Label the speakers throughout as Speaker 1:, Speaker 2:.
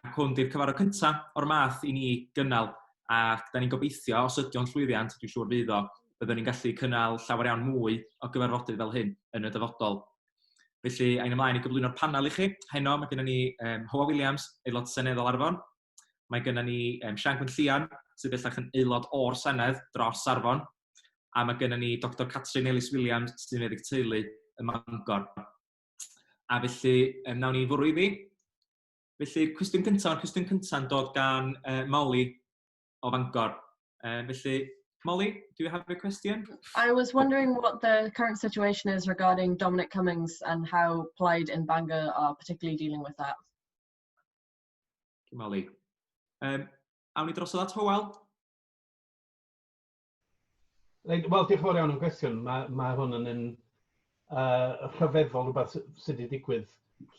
Speaker 1: Ac hwn di'r cyfarfod cyntaf o'r math i ni gynnal, ac da ni'n gobeithio, os ydy o'n llwyddiant, dwi'n siŵr fydd o, byddwn ni'n gallu cynnal llawer iawn mwy o gyfarfodydd fel hyn yn y dyfodol. Felly, ein ymlaen i gyflwyno'r panel i chi. Heno, mae gennym ni um, Hoa Williams, aelod seneddol Arfon, Mae gennym ni um, Sian Gwynllian, sydd bellach yn aelod o'r Senedd dros Arfon, a mae gennym ni Dr Catrin Ellis Williams, sy'n meddyg teulu ym Mangor. A felly, um, nawn ni fwrw iddi. Felly, cwestiwn cyntaf, mae'r cwestiwn cyntaf yn dod gan uh, Molly o Fangor. Uh, felly, Molly, do you have a question? I was wondering
Speaker 2: what the current situation is regarding Dominic Cummings and how Plaid in Bangor are particularly dealing with that. Cyn
Speaker 1: Molly. Um, awn ni drosodd at Howell.
Speaker 3: Wel, diolch yn fawr iawn am gwestiwn. Mae, mae hwn yn un uh, rhyfeddol rhywbeth sydd wedi digwydd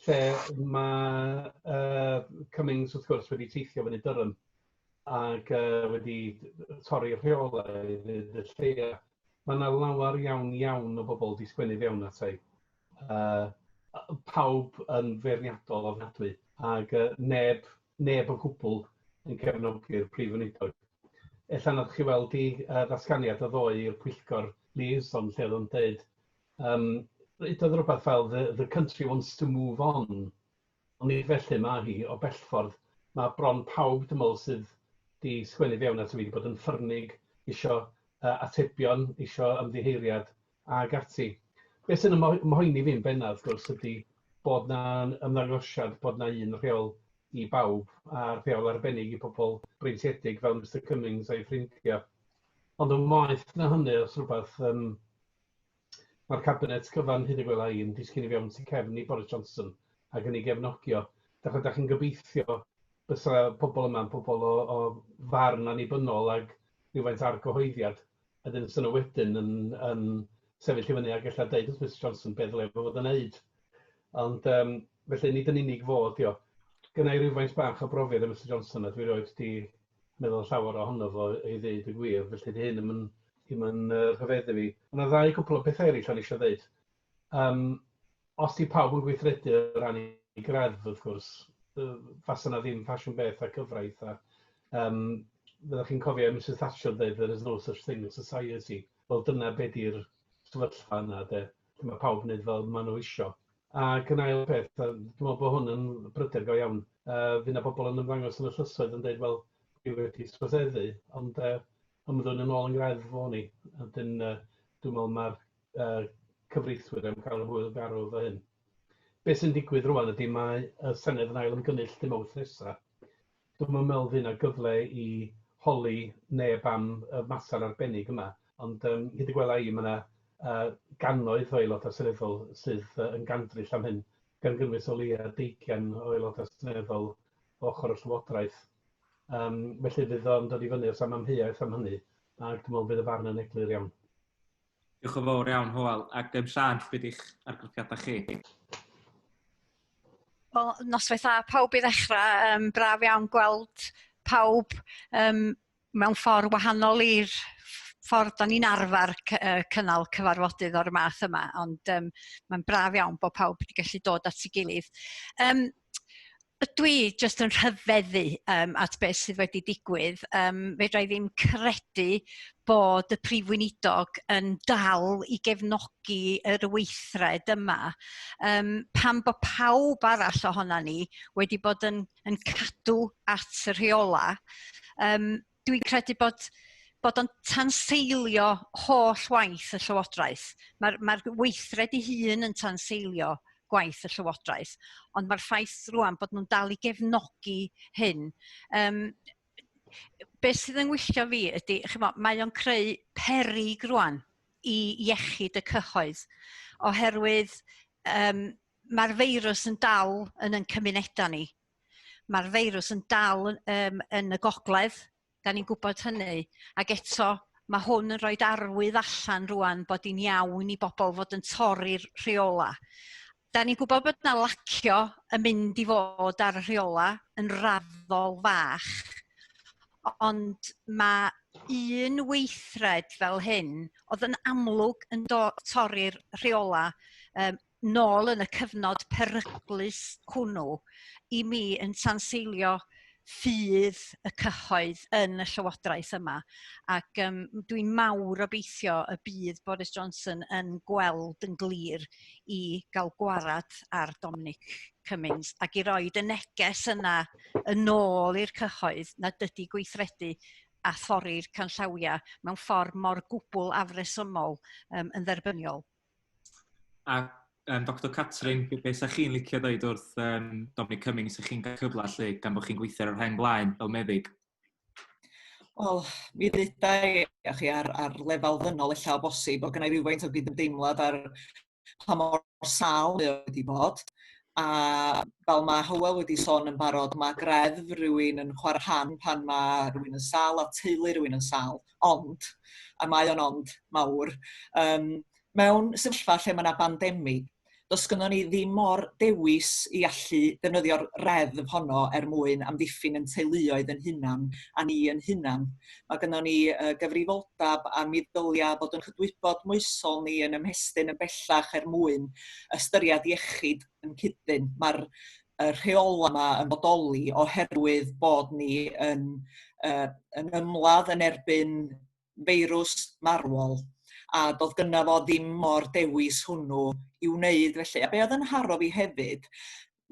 Speaker 3: lle mae uh, Cummings wrth gwrs wedi teithio fyny dyrym ac uh, wedi torri rheolau y lleia. Mae yna lawer iawn iawn o bobl wedi sgwennu fewn at ei. uh, pawb yn feirniadol ofnadwy, ac uh, neb, neb o gwbl yn cefnogi'r prif weinidog. Ella nad chi weld i uh, ddatganiad o ddoe i'r pwyllgor Lees, ond lle oedd o'n dweud, um, ydoedd rhywbeth fel the, the country wants to move on, ond nid felly mae hi o bellffordd. Mae bron pawb, dwi'n meddwl, sydd wedi sgwennu fewn at y fi wedi bod yn ffyrnig, eisiau uh, atebion, eisiau ymddiheiriad, ac ati. Be' sy'n 'y mo- mhoeni fi yn benna wrth gwrs ydi bod 'na yn ymddangosiad bod 'na un rheol i bawb a rheol arbennig i pobol breintiedig fel Mister Cummings a'i ffrindia. Ond yn waeth na hynny os rwbath yym ma'r cabinet cyfan hyd y gwela i yn disgyn i fewn tu cefn i Boris Johnson ac yn ei gefnogi o. Dach ydach chi'n gobeithio bysa pobol yma'n pobol o o farn annibynnol ag rhywfaint o argyhoeddiad Wedyn fysa nhw wedyn yn yn sefyll i fyny ac ella deud wrth Misus Johnson be ddylai fo fod yn neud. Ond um, felly nid yn unig fo ydi o. Gynna i rywfaint bach o brofiad â Misus Johnson a dwi roed di meddwl llawer ohono fo i ddeud y gwir, felly di hyn yn ddim yn uh, rhyfeddu fi. Mae yna ddau gwpl o bethau eraill o'n eisiau ddeud. Yym, os 'di pawb yn gweithredu o ran 'u greddf wrth gwrs, yy fasa 'na ddim ffasiwn beth a cyfraith a yym fyddech chi'n cofio Misus Thatcher yn deud there is no such thing as society. Wel dyna be' 'di'r sefyllfa yna de, lle ma' pawb yn neud fel ma' nhw isio. Ac yn ail peth yym dwi me'wl bo' hwn yn bryder go iawn. Yy fy' 'na bobol yn ymddangos yn y llysoedd yn deud wel dwi wedi troseddu ond yy ymddwyn yn ôl yn greddf o'n i a 'dyn yy dwi me'wl ma'r uh, cyfreithwyr am cael y hwyl garw fy hyn. Beth sy'n digwydd rwan ydy mae y Senedd yn ail ymgynnull dim awth nesaf. Dwi'n meddwl fydd yna gyfle i holi neb am y mater arbennig yma, ond um, hyd y gwela i mae yna uh, gannoedd o aelodau seneddol sydd uh, yn gandryll am hyn, gan gynnwys o leia deigian o aelodau seneddol o ochr y llywodraeth. Um, felly fydd o'n dod i fyny os am amheuaeth am hynny, ac dwi'n meddwl bydd y farn yn eglur iawn. Diolch yn
Speaker 1: fawr iawn, Hywel. Ac um, Sian, beth ydych argraffiadau chi?
Speaker 4: Wel, noswaith dda pawb i ddechrau. Um, braf iawn gweld pawb um, mewn ffordd wahanol i'r ffordd da ni'n arfer cynnal cyfarfodydd o'r math yma, ond um, mae'n braf iawn bod pawb wedi gallu dod at ei gilydd. Um, Dwi jyst yn rhyfeddu um, at beth sydd wedi digwydd. Um, fedra i ddim credu bod y Prif Weinidog yn dal i gefnogi yr weithred yma. Um, pan bod pawb arall ohono ni wedi bod yn, yn cadw at y rheola, um, dwi'n credu bod bod o'n tanseilio holl waith y Llywodraeth. Mae'r mae weithred ei hun yn tanseilio gwaith y Llywodraeth, ond mae'r ffaith rwan bod nhw'n dal i gefnogi hyn. Um, be sydd yn wylltio fi ydy, chymo, mae o'n creu perig rwan i iechyd y cyhoedd, oherwydd um, mae'r feirws yn dal yn yn cymunedau ni. Mae'r feirws yn dal um, yn y gogledd, da ni'n gwybod hynny, ac eto mae hwn yn rhoi arwydd allan rwan bod hi'n iawn i bobl fod yn torri'r rheola. Da ni'n gwybod bod yna lacio yn mynd i fod ar y rheola yn raddol fach, ond mae un weithred fel hyn oedd yn amlwg yn torri'r rheola um, nôl yn y cyfnod peryglus hwnnw i mi yn tanseilio ffydd y cyhoedd yn y llywodraeth yma ac um, dwi'n mawr obeithio y bydd Boris Johnson yn gweld yn glir i gael gwarad ar Dominic Cummings ac i roi y neges yna yn ôl i'r cyhoedd na dydy gweithredu a thori'r canllawiau mewn ffordd mor gwbl afresymol um, yn dderbyniol.
Speaker 1: A yym Doctor Catrin, be be 'sa chi'n licio ddeud wrth yym Dominic Cummings 'sa chi'n cael cyfle 'lly gan bod chi'n gweithio ar y rheng flaen fel meddyg?
Speaker 5: Wel, mi ddeuda i a chi ar ar lefel ddynol ella o bosib, bod gynna i rywfaint o gydymdeimlad ar pa mor sâl mae o wedi bod, a fel ma' Hywel wedi sôn yn barod, ma' greddf rywun yn chwarae rhan pan ma' rywun yn sâl a teulu rywun yn sâl. ond, a mae o'n ond mawr, um, mewn sefyllfa lle mae yna bandemi, does gyda ni ddim mor dewis i allu defnyddio'r reddf honno er mwyn amddiffyn yn teuluoedd yn hunan a ni yn hunan. Mae gyda ni uh, gyfrifoldeb a mi ddylia bod yn chydwybod moesol ni yn ymhestyn yn bellach er mwyn ystyried iechyd yn cydyn. Mae'r y rheolau yma yn bodoli oherwydd bod ni yn, uh, yn ymladd yn erbyn feirws marwol a doedd gynna fo ddim mor dewis hwnnw i wneud felly. A be oedd yn haro fi hefyd,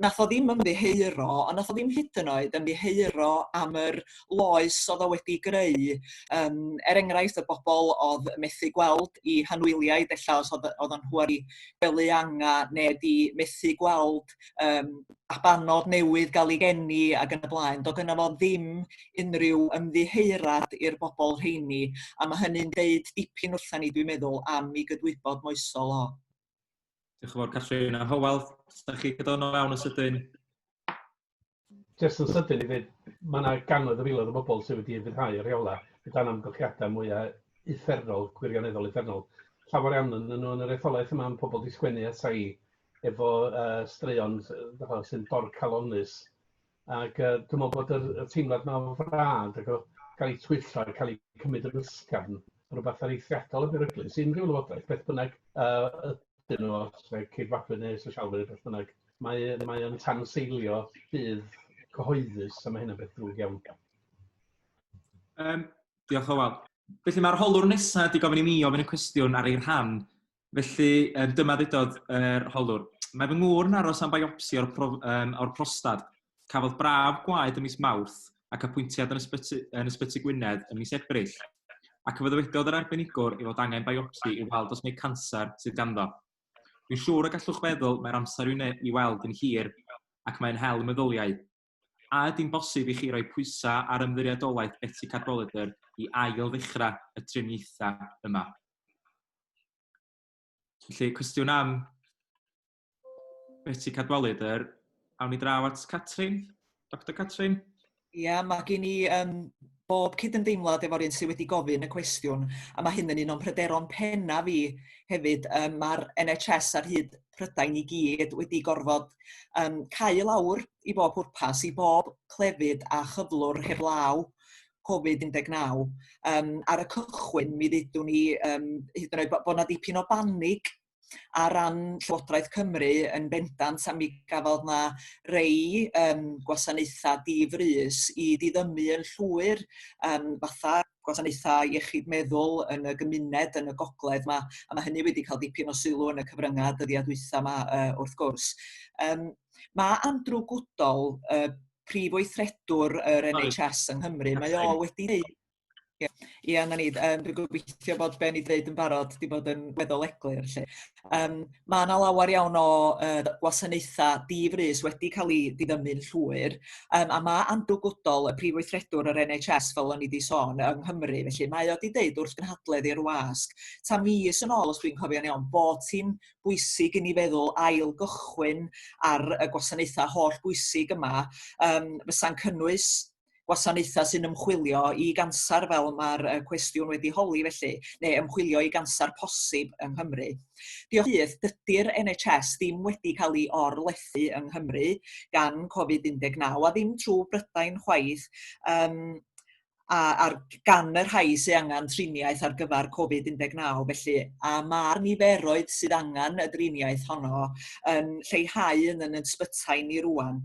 Speaker 5: nath o ddim ymddiheuro, ond nath o ddim hyd yn oed ymddiheuro am yr loes oedd o wedi greu. Um, er enghraifft, y bobl oedd methu gweld i hanwyliaid, efallai os oedd, oedd o'n hwyr i gwely anga neu di methu gweld um, abanod newydd gael ei geni ac yn y blaen. Do gyna fo ddim unrhyw ymddiheurad i'r bobl rheini, a mae hynny'n deud dipyn wrtha ni, dwi'n meddwl, am i gydwybod moesol o. Diolch
Speaker 1: yn fawr, Catrin. A Howell, ydych chi gydonol iawn yn sydyn?
Speaker 3: jyst yn sydyn i ddweud, mae yna gannoedd o filoedd o bobl sydd wedi ymfyrhau y rheolau o dan amgylchiadau mwyaf uffernol, gwirioneddol uffernol. Llawer iawn yn nhw yn yr etholaeth yma yn pobl di sgwennu ata i efo uh, straeon uh, sy'n dorcalonus. Ac uh, dwi'n meddwl bod yr, y teimlad yma o frad ac o gael ei twyllo a cael ei cymryd yn ysgafn rhywbeth ar eithriadol y beryglus. Unrhyw lywodraeth, beth bynnag uh, ydyn nhw, os ceidwadwyr neu sosialwyr, beth bynnag, Mae, mae o'n tanseilio bydd cyhoeddus, a mae hyn yn beth drwg iawn. Um,
Speaker 1: diolch o wal. Felly mae'r holwr nesaf wedi gofyn i mi ofyn y cwestiwn ar ei rhan. Felly um, dyma ddudodd yr er holwr. Mae fy ngŵr yn aros am biopsi o'r, prof, um, or prostad. Cafodd braf gwaed y mis Mawrth ac apwyntiad yn ysbyty, yn ysbyty Gwynedd y mis Ebrill. Ac fe ddywedodd yr arbenigwr i fod angen biopsi i weld os mae canser sydd ganddo. Dwi'n siŵr y gallwch feddwl mae'r amser i'w wneud... i'w weld yn hir ac mae'n hel y meddyliau. A ydy'n bosib i chi roi pwysau ar Ymddiriedolaeth Betsi Cadwaladr i ail-ddechrau y triniaethau yma? Felly, cwestiwn am Betsi Cadwaladr. Awn ni draw at Catrin, Doctor Catrin. Ia, mae
Speaker 5: gen i um, bob cydymdeimlad efo'r un sydd wedi gofyn y cwestiwn, a mae hyn yn un o'n pryderon penna fi hefyd. Um, Mae'r NHS ar hyd Prydain i gyd wedi gorfod um, cau lawr i bob pwrpas, i bob clefyd a chyflwr heb law Covid-19. Um, ar y cychwyn, mi ddydwn ni um, hyd yn oed bod yna ddipyn o banig ar ran Llywodraeth Cymru yn bendant a mi gafodd 'na rei yym gwasanaetha' di-frys i ddiddymu yn llwyr yym fatha gwasanaethau iechyd meddwl yn y gymuned yn y gogledd 'ma a ma' hynny wedi cael dipyn o sylw yn y cyfrynga' dyddiau dwytha 'ma yy wrth gwrs. Yym ma' Andrew Goodall yy prif weithredwr yr NHS yng Nghymru mae o wedi deud Ie, ie, 'na ni. Yym dwi'n gobeithio bod be' o'n i deud yn barod 'di bod yn weddol eglur 'lly. Yym ma' 'na lawer iawn o yy d- gwasanaetha di-frys wedi ca'l 'u diddymu'n llwyr yym a ma' Andrew Goodall, y Prif Weithredwr yr En Haitch Ess fel o'n i 'di sôn yng Nghymru felly mae o 'di deud wrth gynhadledd i'r wasg ta mis yn ôl os dwi'n cofio'n iawn bod hi'n bwysig i ni feddwl ail gychwyn ar y gwasanaetha holl bwysig yma yym fysa'n cynnwys gwasanaethau sy'n ymchwilio i ganser fel mae'r cwestiwn wedi holi felly, neu ymchwilio i ganser posib yng Nghymru. Diolch byth, dydy'r NHS ddim wedi cael ei orlethu yng Nghymru gan Covid-19 a ddim trwy Brydain chwaith, um, a, ar gan y rhai sydd angen triniaeth ar gyfer Covid-19 felly a mae'r niferoedd sydd angen y driniaeth honno yn lleihau yn yn ysbytai ni rwan.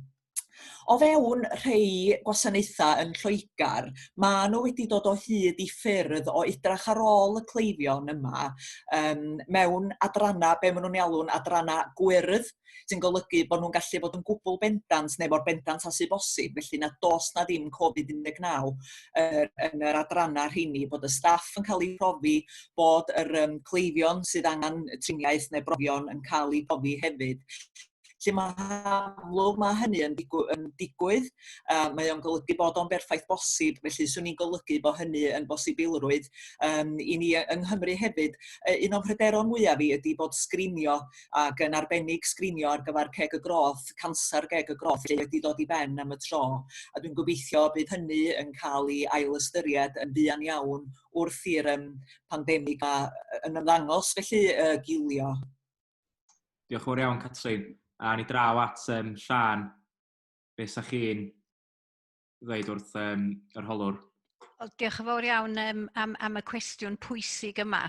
Speaker 5: O fewn rhai gwasanaethau yn Lloegr, maen nhw wedi dod o hyd i ffyrdd o edrach ar ôl y cleifion yma um, mewn adrannau, be maen nhw'n alw'n adrannau gwyrdd, sy'n golygu bod nhw'n gallu bod yn gwbl bendant neu mor bendant a sy'n bosib, felly na dos na ddim Covid-19 er, yn yr adrannau rheini, bod y staff yn cael ei profi, bod yr um, cleifion sydd angen triniaeth neu brofion yn cael ei profi hefyd. lle mae amlwg mae hynny yn, digw yn digwydd. Uh, mae o'n golygu bod o'n berffaith bosib, felly swn i'n golygu bod hynny yn bosibilrwydd um, i ni yng Nghymru hefyd. Uh, un o'n pryderon mwyaf fi ydy bod sgrinio ac yn arbennig sgrinio ar gyfer ceg y groth, canser geg y groth, lle wedi dod i ben am y tro. A dwi'n gobeithio bydd hynny yn cael ei ailystyried yn fuan iawn wrth i'r um, pandemig yn ymddangos felly uh, gilio.
Speaker 1: Diolch yn fawr iawn, Catrin. A ni draw at um, Llan. Be sa chi'n ddweud wrth um, yr holwr? Wel, diolch yn fawr
Speaker 4: iawn um, am, am y cwestiwn pwysig yma.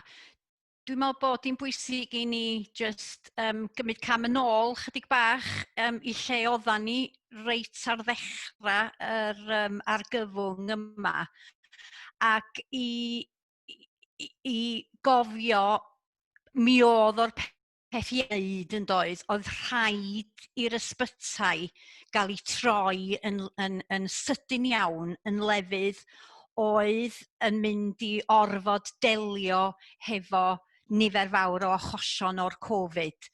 Speaker 4: Dwi'n meddwl bod hi'n bwysig i ni just um, gymryd cam yn ôl chydig bach um, i lle oeddan ni reit ar ddechrau yr um, argyfwng yma ac i i, i gofio mi oedd o'r peth i wneud yn doedd, oedd rhaid i'r ysbytai gael ei troi yn, yn, yn sydyn iawn yn lefydd oedd yn mynd i orfod delio hefo nifer fawr o achosion o'r Covid.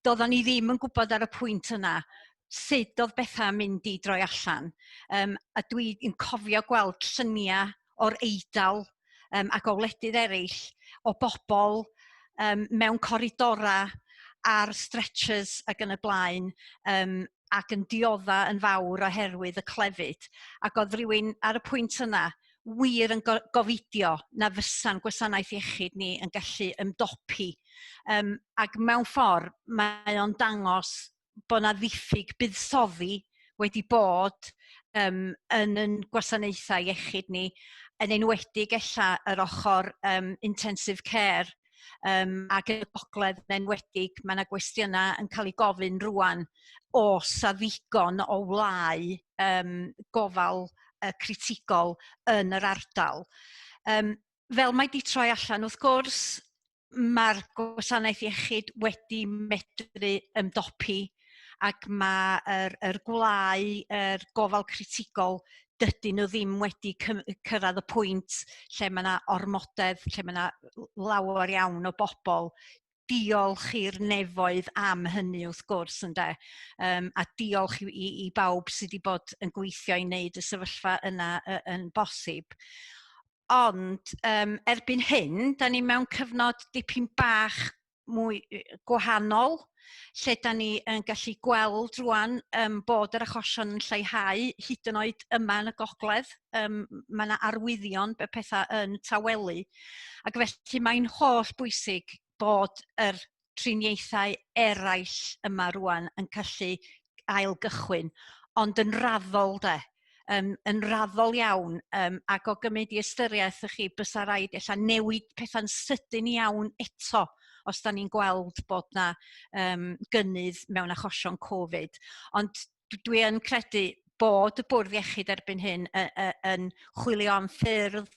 Speaker 4: Doeddwn ni ddim yn gwybod ar y pwynt yna sut oedd bethau yn mynd i droi allan. Um, a dwi'n cofio gweld lluniau o'r Eidal um, ac o wledydd eraill o bobl um, mewn coridorau ar stretchers ac yn y blaen um, ac yn diodda yn fawr oherwydd y clefyd. Ac oedd rhywun ar y pwynt yna wir yn gofidio na fysa'n gwasanaeth iechyd ni yn gallu ymdopi. Um, ac mewn ffordd, mae o'n dangos bod 'na ddiffyg buddsoddi wedi bod yym yn ein gwasanaethau iechyd ni, yn enwedig ella yr ochr um, intensive care, um, ac yn y gogledd yn enwedig, mae yna gwestiynau yn cael eu gofyn rwan o sa ddigon o wlau um, gofal uh, critigol yn yr ardal. Um, fel mae di troi allan, wrth gwrs, mae'r gwasanaeth iechyd wedi medru ymdopi ac mae'r er, er gwlau, er gofal critigol, dydyn nhw ddim wedi cyrraedd y pwynt lle mae yna ormodedd, lle mae yna lawer iawn o bobl diolch i'r nefoedd am hynny wrth gwrs ynde um, a diolch i, i bawb sydd wedi bod yn gweithio i wneud y sefyllfa yna yn bosib. Ond um, erbyn hyn, da ni mewn cyfnod dipyn bach mwy gwahanol, lle da ni yn gallu gweld rwan um, bod yr achosion yn lleihau, hyd yn oed yma yn y gogledd, um, mae yna arwyddion be pethau yn tawelu. Ac felly mae'n holl bwysig bod yr triniaethau eraill yma rŵan yn gallu ail gychwyn, ond yn raddol de, um, yn raddol iawn, um, ac o gymryd i ystyriaeth ych chi, bysa rhaid ella newid pethau'n sydyn iawn eto os da ni'n gweld bod na um, gynnydd mewn achosion Covid. Ond dwi yn credu bod y bwrdd iechyd erbyn hyn y, y, yn chwilio am ffyrdd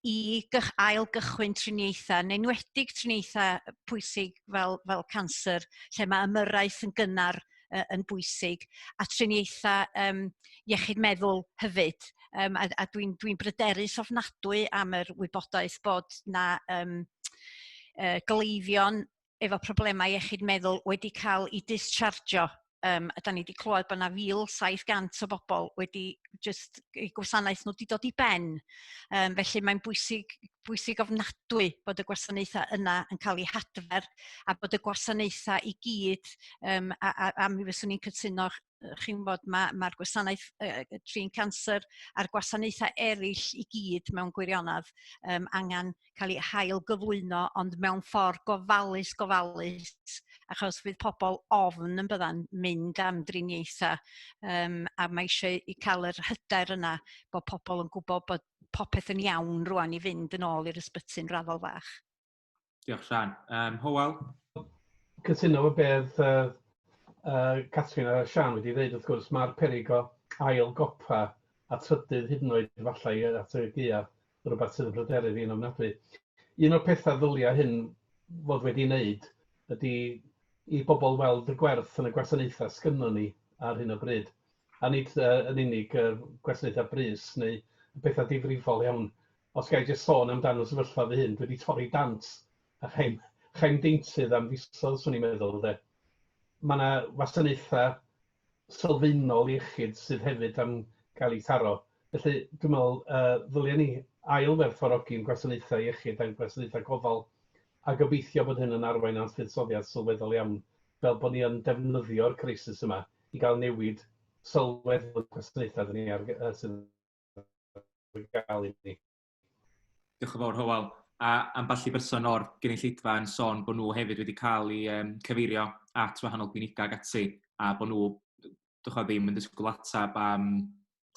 Speaker 4: i gych, ail gychwyn triniaethau, yn enwedig triniaethau pwysig fel, fel cancer, lle mae ymyrraeth yn gynnar uh, yn bwysig, a triniaethau um, iechyd meddwl hefyd. Um, a a dwi'n dwi, dwi bryderus ofnadwy am yr wybodaeth bod na um, uh, gleifion efo problemau iechyd meddwl wedi cael eu dischargio. Um, a da ni wedi clywed bod yna 1,700 o bobl wedi just i gwasanaeth nhw wedi dod i ben. Um, felly mae'n bwysig, bwysig ofnadwy bod y gwasanaethau yna yn cael eu hadfer a bod y gwasanaethau i gyd, um, a, a, a mi fyswn i'n cytuno chi'n gwybod ma' ma'r gwasanaeth yy trin canser a'r gwasanaethau eraill i gyd mewn gwirionedd yym angen cael ei hail gyflwyno ond mewn ffordd gofalus gofalus achos fydd pobl ofn yn bydda'n mynd am driniaethau yym, a mae eisiau i cael yr hyder yna bod pobl yn gwybod bod popeth yn iawn rwan i fynd yn ôl i'r ysbyty'n raddol fach. Diolch,
Speaker 1: Sian. Um, Howell?
Speaker 3: Cytuno o beth uh, uh, Catrin a Sian wedi dweud, wrth gwrs, mae'r perig o ail gopa a trydydd hyd yn oed efallai at y gea rhywbeth sydd yn bryderu fi'n ofnadwy. Un o'r pethau ddyliau hyn fod wedi wneud ydy i bobl weld y gwerth yn y gwasanaethau sgynnon ni ar hyn o bryd. A nid uh, yn unig uh, gwasanaethau brys neu pethau difrifol iawn, os ga i jyst sôn amdan fy sefyllfa fy hun, dwi 'di torri dant a chai'm chai'm deintydd am fisoedd 'swn i'n meddwl ynde. Ma' 'na wasanaetha' sylfaenol iechyd sydd hefyd am gael eu taro. Felly dwi'n meddwl yy ddylia ni ail-werthfawrogi'n gwasanaethau iechyd a'n gwasanaethau gofal a gobeithio bod hyn yn arwain at fuddsoddiad sylweddol iawn fel bod ni yn defnyddio'r crisis yma i gael newid sylweddol i'n gwasanaethau 'da ni ar gy- yy sydd yn gael i ni. Diolch
Speaker 1: yn fawr, Hywel. A ambell i berson o'r gynulleidfa yn sôn bod nhw hefyd wedi cael eu um, cyfeirio at wahanol glinigau ac ati, a bod nhw dych ddim yn disgwyl atab am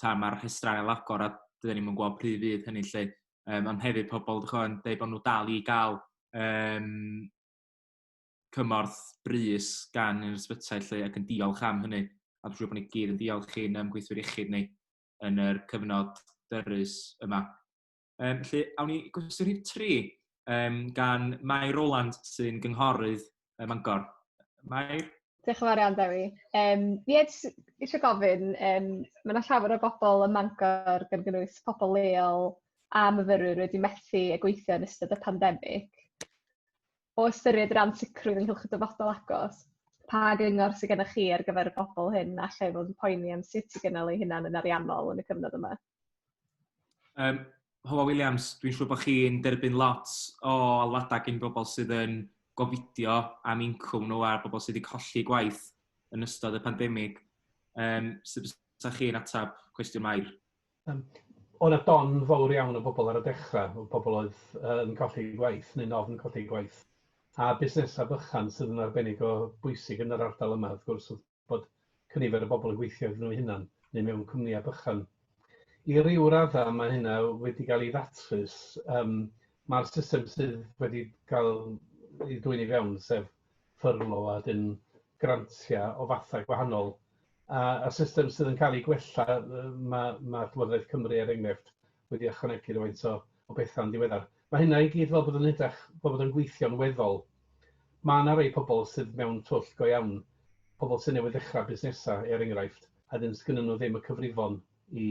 Speaker 1: ta mae'r rhestrau ail agor a dydyn ni'n gwybod pryd fydd hynny lle. Um, ond hefyd pobl dych yn dweud bod nhw dal i gael um, cymorth brys gan yr ysbytai lle ac yn diolch am hynny. A dwi'n siŵr bod ni gyd yn diolch i'n um, gweithwyr iechyd ni yn yr cyfnod dyrus yma. Um, felly, awn ni gwestiwn rhif tri um, gan Mae Roland sy'n gynghorydd ym Mangor. Mae... Diolch yn fawr iawn,
Speaker 6: Dewi. Um, ie, eisiau gofyn, um, mae yna llawer o bobl ym Mangor, gan gynnwys pobl leol a myfyrwyr wedi methu a gweithio yn ystod y pandemig. o ystyried yr ansicrwydd ynghylch y dyfodol agos, pa gyngor sydd gennych chi ar gyfer y bobl hyn a lle fod yn poeni am sut i gynnal eu hunan yn ariannol yn y cyfnod yma? Um,
Speaker 1: Hywel Williams, dwi'n siŵr bod chi'n derbyn lot o alwadau gen bobl sydd yn gofidio am incwm nhw a'r bobl sydd wedi colli gwaith yn ystod y pandemig. Um, sut fysa chi'n atab cwestiwn Mair? Yym
Speaker 3: oedd 'na don fowr iawn o bobl ar y dechra', o bobl oedd yy yn colli eu gwaith neu'n ofn colli eu gwaith, a busnesau bychan sydd yn arbennig o bwysig yn yr ardal yma wrth gwrs oedd bod cynifer o bobl yn gweithio iddyn nhw'u hunan neu mewn cwmnïau bychan. I ryw raddau mae hynna wedi cael ei ddatrys, yym ma'r system sydd wedi cael ei dwyn i fewn sef ffyrlo a dim grantiau o fathau gwahanol. A y system sydd yn cael ei gwella, mae ma Llywodraeth Cymru er enghraifft wedi ychwanegu rhywfaint o, o bethau'n diweddar. Mae hynna i gyd fel bod yn edrych, fel bod yn gweithio'n weddol. Mae yna rei pobl sydd mewn twll go iawn, pobl sy'n newydd ddechrau busnesau er enghraifft, a dyn sgynny nhw ddim y cyfrifon i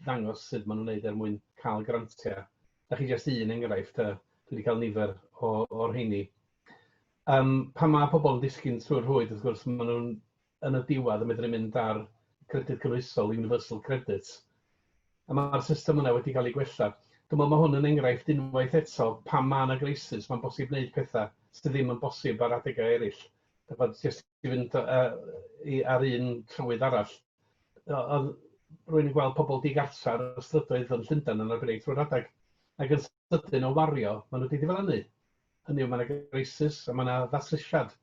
Speaker 3: ddangos sut maen nhw'n neud er mwyn cael grantiau. Da chi jyst un enghraifft, a dwi wedi cael nifer o, o'r heini. Yym pan mae pobl yn disgyn trwy'r rhwyd wrth gwrs maen nhw'n yn y diwedd yn medru mynd ar Credyd Cynhwysol, Universal Credit, a mae'r system yna wedi cael ei gwella. Dwi'n meddwl mae hwn yn enghraifft unwaith eto pan mae yna greisus mae'n bosib wneud pethau sydd ddim yn bosib ar adegau eraill. Dych chibod, jyst i fynd yy ar un trywydd arall, oedd rwy'n yn gweld pobl digartref ar y strydoedd yn Llundain yn arbennig trwy'r adeg ac yn sydyn o wario, maen nhw wedi diflannu. Hynny yw, mae yna greisus a mae yna ddatrysiad.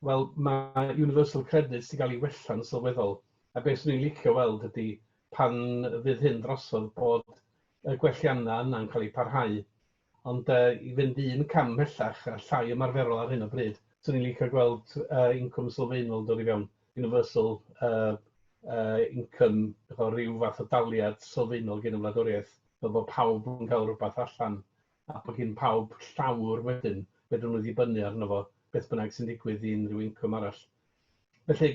Speaker 3: Wel, mae Universal Credit wedi cael ei wella'n sylweddol, a beth swn i'n licio weld ydy pan fydd hyn drosodd bod y gwelliannau yna'n cael eu parhau. Ond uh, i fynd un cam mhellach a llai ymarferol ar hyn o bryd, swn i'n licio gweld uh, incwm sylfaenol dod i fewn. universal uh, uh, income, efo rhyw fath o daliad sylfaenol gen y wladwriaeth, fel bod pawb yn cael rhywbeth allan, a bod gen pawb llawr wedyn, fedrwn nhw ddibynnu arno fo, beth bynnag sy'n digwydd i unrhyw incwm arall. Felly,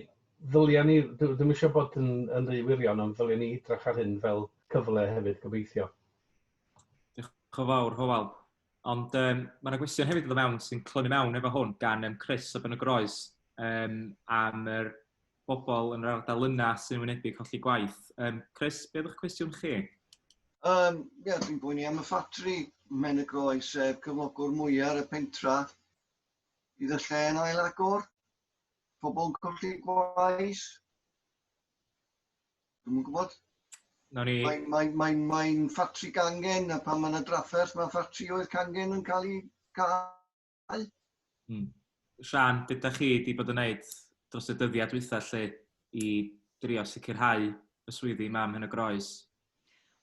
Speaker 3: ddylia ni, dwi ddim eisiau bod yn, yn rhy wirion, ond ddylia ni hidrach ar hyn fel cyfle hefyd, gobeithio.
Speaker 1: Diolch yn fawr, Hywel. Ond um, mae yna gwestiwn hefyd o fewn sy'n clymu mewn efo hwn gan um, Chris o Ben y Groes um, am yr bobl yn yr ardal yna sy'n wynebu colli gwaith. Um, Chris, be ydych cwestiwn chi? Um,
Speaker 7: yeah, dwi'n bwyni am y ffatri Men y Groes, sef cyflogwr mwyaf ar y pentra. Bydd y lle yn ail agor? Pobl yn colli gwaith? Dwi'm yn gwybod. Nawn ni... Mae'n mae, mae, mae ffatri gangen, a pan mae yna drafferth, mae ffatri oedd cangen yn cael ei cael. Hmm. Sian,
Speaker 1: beth da chi wedi bod yn gwneud dros y dyddiau dwytha lle i drio sicrhau y swyddi mam hyn y groes?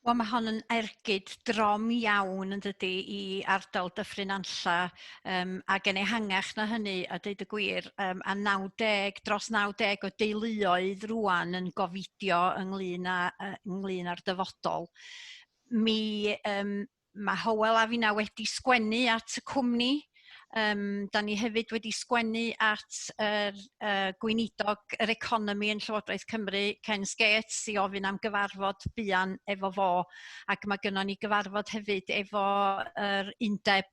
Speaker 1: Wel mae
Speaker 4: hon yn ergyd drom iawn yn dydy i ardal Dyffryn Anlla um, ac yn ehangach na hynny a dweud y gwir um, a 90 dros 90 o deuluoedd rwan yn gofidio ynglyn, a, ynglyn â'r dyfodol. Mi um, mae Howell a finna wedi sgwennu at y cwmni. Um, da ni hefyd wedi sgwennu at yr uh, gweinidog yr economi yn Llywodraeth Cymru, Ken Skates, i ofyn am gyfarfod buan efo fo. Ac mae gynnon ni gyfarfod hefyd efo yr undeb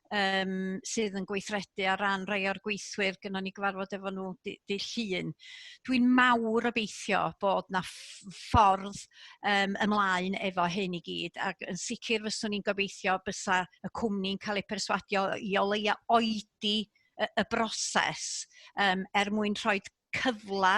Speaker 4: yym sydd yn gweithredu ar ran rhai o'r gweithwyr gynnon ni gyfarfod efo nhw dy- dy' Llun dwi'n mawr obeithio bod 'na ff- ffordd yym ymlaen efo hyn i gyd ac yn sicr fyswn i'n gobeithio bysa y cwmni'n cael eu perswadio i o leia' oedi y y broses yym er mwyn rhoid cyfle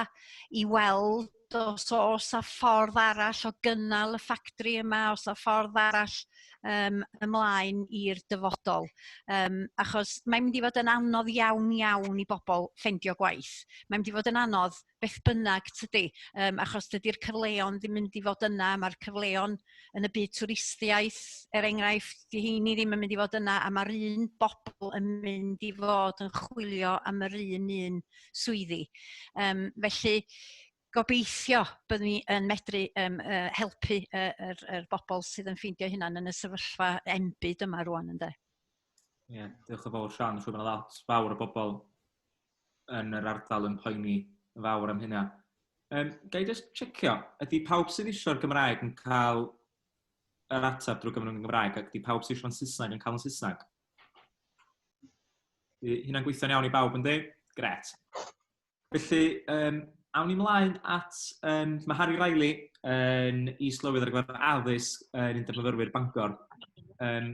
Speaker 4: i weld os oes 'na ffordd arall o gynnal y ffactri yma, os 'na ffordd arall um, ymlaen i'r dyfodol. Um, achos mae'n mynd i fod yn anodd iawn iawn i bobl ffendio gwaith. Mae'n mynd i fod yn anodd beth bynnag tydi, um, achos dydy'r cyfleon ddim mynd i fod yna, mae'r cyfleon yn y byd twristiaeth, er enghraifft, di heini ddim yn mynd i fod yna a mae'r un bobl yn mynd i fod yn chwilio am yr un un swyddi. Um, felly, gobeithio byddwn ni yn medru um, uh, helpu y uh, er, er bobl sydd yn ffeindio hynna'n yn y sefyllfa enbyd yma rwan, ynddo. Ie, yeah,
Speaker 1: diolch yn fawr Sian, siwr bod yna lot fawr o bobl yn yr ardal yn poeni yn fawr am hynna. Um, Gai just checio, ydy pawb sydd eisiau'r Gymraeg yn cael yr ateb drwy gyfrwng yn Gymraeg ac ydy pawb sydd eisiau'n Saesneg yn cael yn Saesneg? Hynna'n gweithio'n iawn i bawb yn dweud? Gret. Felly, um, awn i mlaen at... Um, mae Harry Riley yn is-lywydd ar gyfer addysg yn Undeb Myfyrwyr Bangor. Um,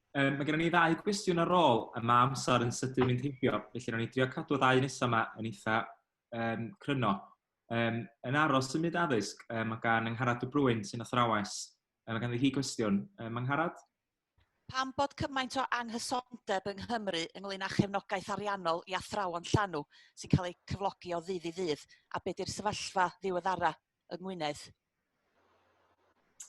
Speaker 1: Yym, mae gennym ni ddau gwestiwn ar ôl, a mae amser yn sydyn mynd heibio, felly ro'n i'n drio cadw ddau nesaf yma yn eitha um, cryno. Um, yn aros yn myd addysg, um, mae gan Angharad y Brwyn sy'n athrawes. Um, mae ganddi hi gwestiwn. Um, Angharad? Pam
Speaker 8: bod cymaint o anghysondeb yng Nghymru ynglyn â chefnogaeth ariannol i athrawon llanw sy'n cael eu cyflogi o ddydd i ddydd, a beth yw'r sefyllfa ddiweddara? yng Ngwynedd.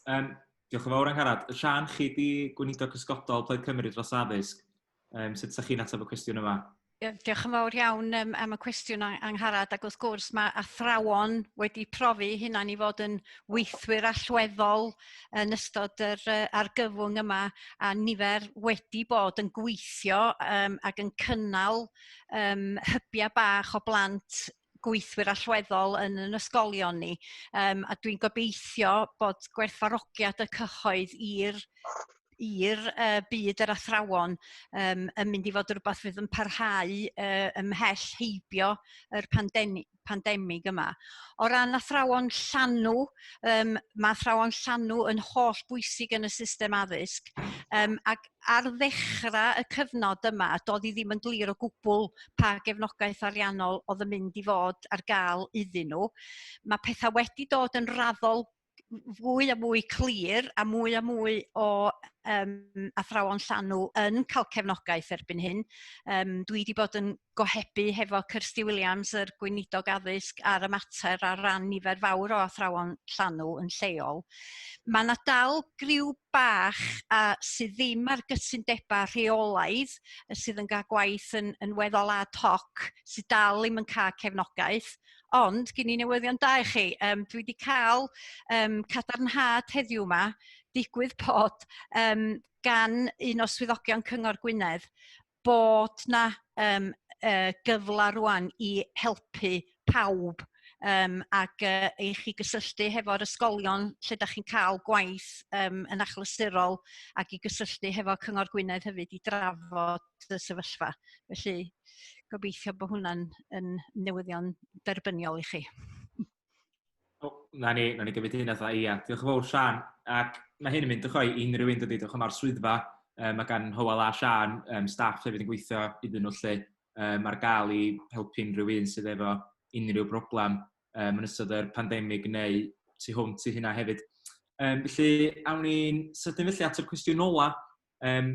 Speaker 8: Um,
Speaker 1: diolch yn fawr, Angharad. Sian, chi di gweinidog cysgodol Plaid Cymru dros addysg. Um, sut ydych chi'n ateb y cwestiwn yma? Diolch yn fawr
Speaker 4: iawn um, am y cwestiwn angharad ac wrth gwrs mae athrawon wedi profi hynna'n i fod yn weithwyr allweddol yn ystod yr uh, argyfwng yma a nifer wedi bod yn gweithio um, ac yn cynnal um, hybiau bach o blant gweithwyr allweddol yn yn ysgolion ni um, a dwi'n gobeithio bod gwerthfarogiad y cyhoedd i'r i'r uh, byd yr athrawon um, yn mynd i fod rhywbeth fydd yn parhau uh, ymhell heibio yr pandemig, pandemig yma. O ran athrawon llanw, um, mae athrawon llanw yn holl bwysig yn y system addysg um, ac ar ddechrau y cyfnod yma, doedd hi ddim yn glir o gwbl pa gefnogaeth ariannol oedd yn mynd i fod ar gael iddyn nhw. Mae pethau wedi dod yn raddol fwy a mwy clir a mwy a mwy o um, athrawon llanw yn cael cefnogaeth erbyn hyn. Um, dwi wedi bod yn gohebu hefo Kirsty Williams, yr Gweinidog Addysg, ar y mater ar ran nifer fawr o athrawon llanw yn lleol. Mae yna dal griw bach a sydd ddim ar gytundebau rheolaidd sydd yn cael gwaith yn, yn weddol ad hoc sydd dal ddim yn cael cefnogaeth. Ond gen i newyddion da i chi. Um, dwi wedi cael um, cadarnhad heddiw yma digwydd bod um, gan un o swyddogion Cyngor Gwynedd bod 'na yym yy gyfla rŵan i helpu pawb yym ac yy i chi gysylltu hefo'r ysgolion lle 'da chi'n ca'l gwaith yym yn achlysurol ac i gysylltu hefo Cyngor Gwynedd hefyd i drafod y sefyllfa. Felly gobeithio bo' hwnna'n yn newyddion derbyniol i chi. na
Speaker 1: ni, na ni gymryd un atho ia. Diolch yn fawr Sian. Ac mae hyn yn mynd ychoi i unrhyw un dydy, diolch am ar swyddfa. Um, mae gan Howell a Sian um, staff hefyd yn gweithio iddyn nhw lle um, ar gael i helpu unrhyw un sydd efo unrhyw broblem um, yn ystod yr pandemig neu tu hwnt i hynna hefyd. Um, felly, awn ni'n sydyn felly at y cwestiwn ola. Um,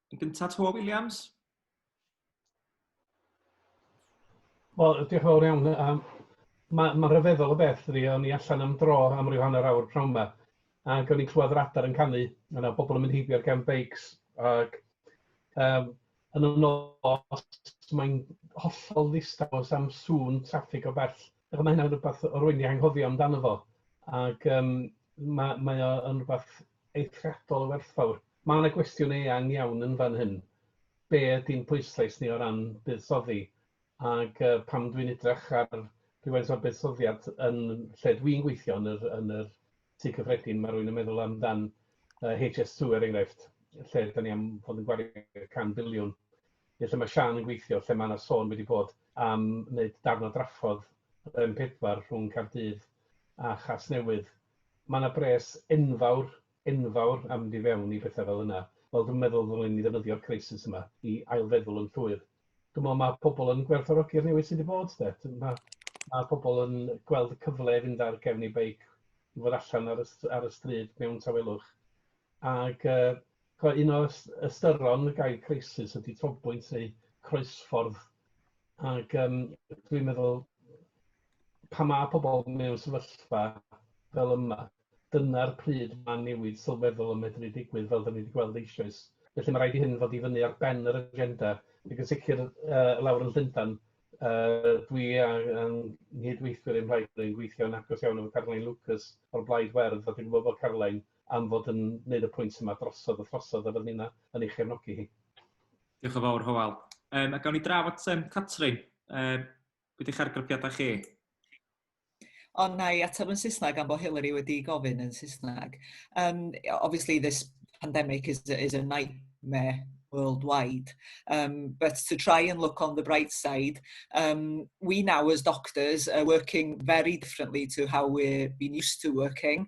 Speaker 1: Yn gyntaf, Twa Williams.
Speaker 3: Wel, diolch yn fawr iawn. Um, Mae'n ma rhyfeddol o beth, dwi, o'n i allan am dro am ryw hanner awr pnawn yma, ac o'n i'n clywed yr adar yn canu, yna pobl yn mynd heibio ar gefn beics, ac um, yn y nos mae'n hollol ddistaw am sŵn traffig o bell. Ac mae hynna'n rhywbeth rwy'n ei anghofio amdano fo, ac um, mae, mae o yn rhywbeth eithriadol o werthfawr. Mae yna gwestiwn eang iawn yn fan hyn. Be ydy'n pwyslais ni o ran buddsoddi? Ac uh, pam dwi'n edrych ar rhywfaint o'r buddsoddiad yn lle dwi'n gweithio yn yr, yn yr tu cyffredin, mae rwy'n yn meddwl amdan uh, HS2 er enghraifft, lle da ni am fod yn gwario can biliwn neu lle mae Siân yn gweithio, lle mae 'na sôn wedi bod am wneud darn o draffordd yr M4 rhwng Caerdydd a Chasnewydd. Mae 'na bres enfawr, enfawr am fynd i fewn i bethau fel yna. Wel, dwi'm yn meddwl ddylen ni ddefnyddio'r crisis yma i ailfeddwl yn llwyr. Dwi'n meddwl mae pobl yn gwerthfawrogi'r newid sydd wedi bod 'de. Mae mae pobl yn gweld y cyfle i fynd ar gefn eu beic, i fod allan ar y ar y stryd mewn tawelwch. Ac Ch'mo' un o ys- ystyron y gair crisis ydi trobwynt neu croesffordd ag yym dwi'n meddwl pan ma' pobl mewn sefyllfa fel yma, dyna'r pryd ma' newid sylweddol yn medru digwydd fel 'dan ni 'di gweld eisoes. Felly ma' raid i hyn fod i fyny ar ben yr agenda ac yn sicr yy lawr yn Llundan yy dwi a yng nghyd-weithwyr i'm mhlaid ni'n gweithio'n agos iawn efo Caroline Lucas o'r Blaid Werdd a dwi'n gwbod bod Caroline am fod yn neud y pwynt yma drosodd a throsodd a fod ni'n yn ei chefnogi hi. Diolch yn
Speaker 1: fawr, Hywel. Um, a gawn ni draf at um, Catrin. Um, beth eich argraffiadau chi?
Speaker 5: Ond na i ateb yn Saesneg am bod Hillary wedi gofyn yn Saesneg. Um, obviously this pandemic is, is a nightmare worldwide. Um, but to try and look on the bright side, um, we now as doctors are working very differently to how we've been used to working.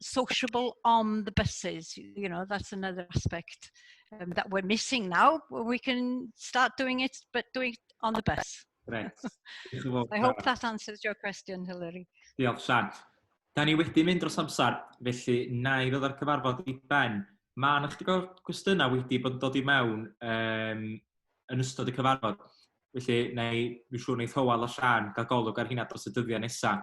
Speaker 4: sociable on the buses. You know, that's another aspect um, that we're missing now. We can start doing it, but do it on the bus. Right.
Speaker 1: I
Speaker 4: hope that answers your question, Hilary. Diolch, Sian.
Speaker 1: Da ni wedi mynd dros amser, felly na i ddod â'r cyfarfod i ben. Mae yna chdi o'r gwestiynau wedi bod yn dod i mewn um, yn ystod y cyfarfod. Felly, neu, mi siŵr wneud Hywel a Sian gael golwg ar hynna dros y dyddiau nesaf.